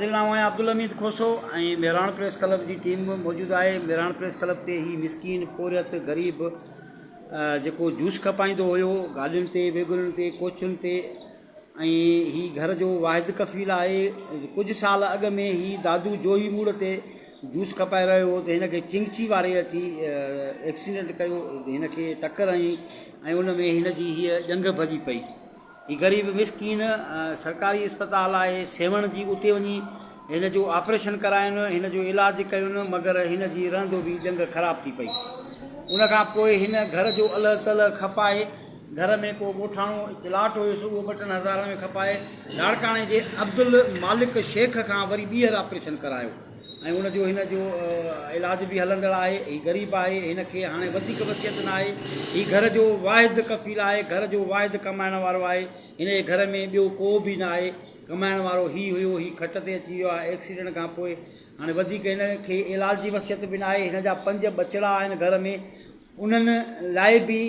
حاضر نامو آهي عبدالحميد کوسو ۽ مهراڻ پريس ڪلب جي ٽيم به موجود آهي مهراڻ پريس ڪلب تي هي مسڪين پورهيت غريب جيڪو جوس کپائيندو هيو گاڏين تي ويگنن تي ڪوچن تي ۽ هي گهر جو واحد ڪفيل آهي ڪجهه سال اڳ ۾ هي دادو جوهي موڙ تي جوس کپائي رهيو هو ته هن کي چنگچي واري اچي ايڪسيڊنٽ ڪيو هن کي ٽڪر هنئي ۽ ان ۾ هن جي هيء ڄنگهه ڀڄي پئي هي غريب مسڪين سرڪاري اسپتال آهي سيوهڻ جي اتي وڃي هن جو آپريشن ڪراين هن جو علاج ڪين مگر هن جي رهندو به ڄنگهه خراب ٿي پئي ان کان پوء هن گهر جو الهه تلهه کپائي گهر ۾ ڪو ڳوٺاڻو پلاٽ هيس اهو ٻه ٽن هزارن ۾ کپائي لاڙڪاڻي جي عبدالمالڪ شيخ کان وري ٻيهر آپريشن ڪرايو ۽ ان جو هن جو علاج به هلندڙ آهي هي غريب آهي هن کي هاڻي وڌيڪ وصيت نه آهي هي گهر جو واحد ڪفيل آهي گهر جو واحد ڪمائڻ وارو آهي هن جي گهر ۾ ٻيو ڪو به نه آهي ڪمائڻ وارو هي هيو هي کٽ تي اچي ويو آهي ايڪسيڊنٽ کان پوء هاڻي وڌيڪ هن کي علاج جي وصيت به نه آهي هن جا پنج ٻچڙا آهن گهر ۾ انهن لاء به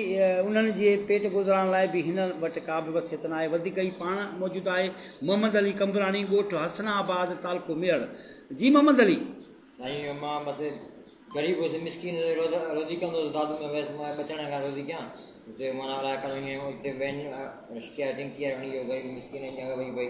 انهن جي پيٽ گذران لاء به هن وٽ ڪابه وصيت ناهي وڌيڪ هي پاڻ موجود آهي محمد علي قمبراڻي ڳوٺ حسن آباد تعلقو ميهڙ جي محمد علي. سائين مان بس غريب هوس مسڪين هوس روزي ڪندو هوس دادو ۾ ويس مان ٻچڙن کان روزي ڪيان اتي مانا الاء ڪڏهن اتي وين رشڪي آهي ٽينڪي آهي هڻي ويو غريب مسڪين جي اڳيان وڃي پئي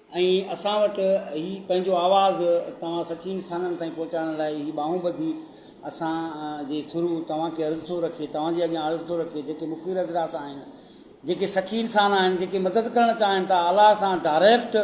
۽ اسان وٽ هي پنهنجو آواز توهان سچي انسانن تائين پهچائڻ لاء هي ٻانهون ٻڌي اسان جي ٿرو توهان کي عرض ٿو رکي توهان جي اڳيان عرض ٿو رکي جيڪي مخبر حضرات آهن جيڪي سچي انسان آهن جيڪي مدد ڪرڻ چاهن ٿا الاء سان ڊائريڪٽ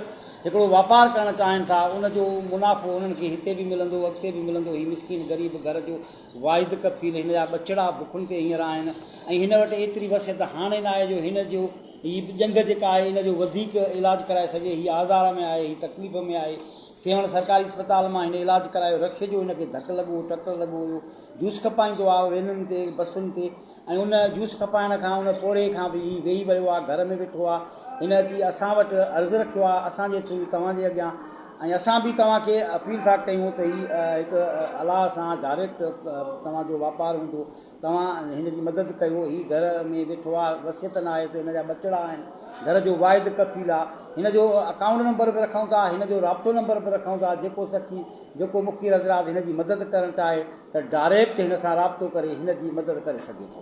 هڪڙو واپار ڪرڻ چاهن ٿا ان جو منافعو انهن کي هتي به ملندو اڳتي به ملندو هي مسڪين غريب گهر جو واحد ڪفيل هن جا ٻچڙا بکن تي هينئر آهن ۽ هن وٽ ايتري وسعت هاڻي ناهي جو هن جو هي ڄنگهه جيڪا آهي ان جو وڌيڪ علاج ڪرائي سگهي، هي آزار ۾ آهي، هي تڪليف ۾ آهي، سيوهڻ سرڪاري اسپتال مان هن علاج ڪرايو، رڪشي جو هن کي ڌڪ لڳو هو، ٽڪر لڳو هيو، جوس کپائيندو آهو وينن تي، بسن تي ۽ ان جوس کپائڻ کان ان پورهئي کان به هي ويهي ويو آهي، گهر ۾ ويٺو آهي، هن اچي اسان وٽ عرض رکيو آهي اسان جي ٿرو توهان جي اڳيان ۽ اسان به توهان کي اپيل ٿا ڪيون ته هي هڪ الاهه سان ڊائريڪٽ توهان جو واپار هوندو توهان هن جي مدد ڪيو، هي گهر ۾ ويٺو آ، وصيت ناهي ته هن جا ٻچڙا آهن، گهر جو واحد ڪفيل آ، هن جو اڪائونٽ نمبر به رکون ٿا، هن جو رابطو نمبر به رکون ٿا، جيڪو سخي، جيڪو مخير حضرات هن جي مدد ڪرڻ چاهي ته ڊائريڪٽ هن سان رابطو ڪري هن جي مدد ڪري سگهي ٿو.